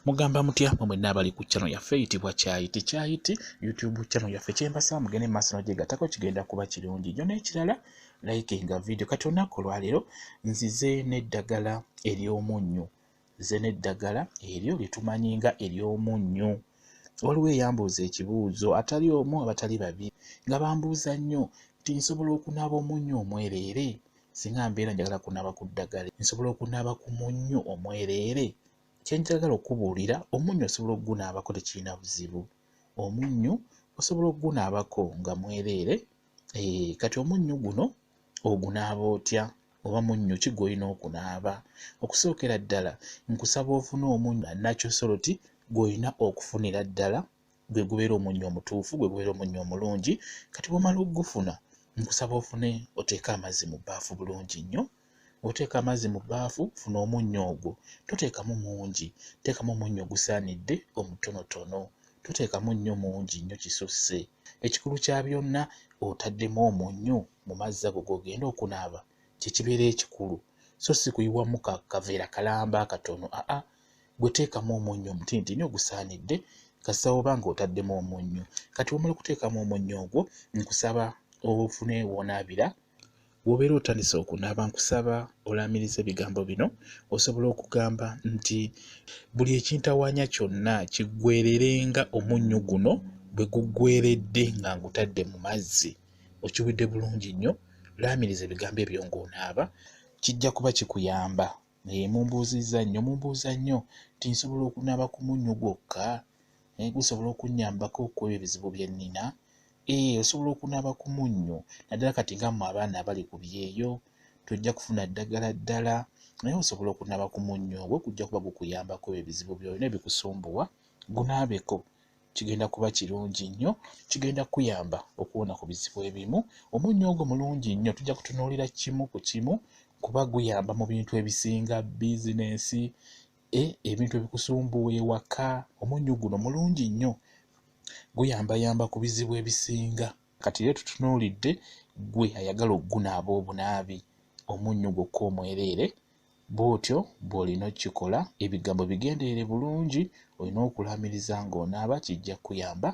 mugamba mutya mwe mwenna abali ku channel yaffe eyitibwa kyayiti kyayiti youtube channel yaffe kyembasaba mugende mu maaso nojegatako kigenda kuba kirungi nyo n'ekirala like nga video kati olunaku olwaleero nzize n'eddagala ery'omunnyo nzize n'eddagala eryo lyetumanyi nga ery'omunnyo waliwo eyambuuza ekibuuzo atali omu abatali babiri nga bambuuza nnyo nti nsobola okunaaba omunnyo omwereere Singa mbeera njagala kunaaba ku ddagala, nsobola okunaaba ku munnyo omwereere? Kye njagala okukubuulira, omunnyo osobola okugunaabako tekirina buzibu. Omunnyo osobola okugunaabako nga mwereere. Eeh, kati omunnyo guno ogunaaba otya? Oba munnyo ki gw'olina okunaaba? Okusookera ddala nkusaba ofune omunnyo natural salt gw'olina okufunira ddala gwe gubeera omunnyo omutuufu gwe gubeera omunnyo omulungi kati bwomala okugufuna nkusaba ofune oteeke amazzi mu bbaafu bulungi nnyo oteeka amazzi mu bbaafu funa omunnyo ogwo toteekamu mungi teekamu omunnyo ogusaanidde omutonotono toteekamu nnyo mungi nnyo kisusse ekikulu kya byonna otaddemu omunnyo mu mazzi ago gogenda okunaaba kyekibeera ekikulu so si kuyiwamu kaveera kalamba akatono aa ah, ah. gwe teekamu omunnyo omutintini ogusaanidde kasita oba nga otaddemu omunnyo kati wamala okuteekamu omunnyo ogwo nkusaba ofune woonaabira wobeera otandise okunaaba nkusaba olaamiriza ebigambo bino osobola okugamba nti buli ekintawaanya kyonna kiggwererenga omunnyo guno bwe guggweredde nga ngutadde mu mazzi okiwidde bulungi nnyo laamiriza ebigambo ebyo ng'onaaba kijja kuba kikuyamba naye mumbuuzizza nnyo mumbuuza nnyo nti nsobola okunaaba ku munnyo gwokka naye gusobola okunnyambako okuba ebizibu bye nnina ee eh, osobola okunaaba ku munnyo naddala kati nga mmwe abaana abali ku byeyo tojja kufuna ddagala ddala naye osobola okunaaba ku munnyo ogwo gujja kuba gukuyambako ebizibu byolina ebikusumbuwa gunaabeko kigenda kuba kirungi nnyo kigenda kuyamba okuwona ku bizibu ebimu omunnyo ogwo mulungi nnyo tujja kutunuulira kimu ku kimu kuba guyamba mu bintu ebisinga bizinensi e ebintu ebikusumbuwa ewaka omunnyo guno mulungi nnyo guyambayamba ku bizibu ebisinga kati era tutunuulidde gwe ayagala okugunaaba obunaabi omunnyo gwokka omwereere Bw'otyo bw'olina okukikola. Ebigambo bigenderere bulungi. Olina okulaamiriza ng'onaaba. Kijja kukuyamba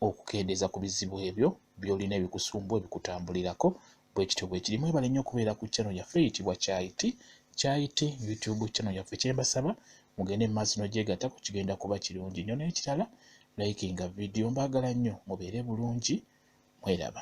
okukendeeza ku bizibu ebyo by'olina ebikusumbuwa, ebikutambulirako. Bwe kityo bwe kiri. Mwebale nnyo okubeera ku channel yaffe eyitibwa Chai Tea. Chai Tea YouTube channel yaffe. Kye mbasaba mugende mu maaso n'ogyegattako, kigenda kuba kirungi nnyo. N'ekirala likinga vidiyo. Mbaagala nnyo. Mubeere bulungi. Mweraba.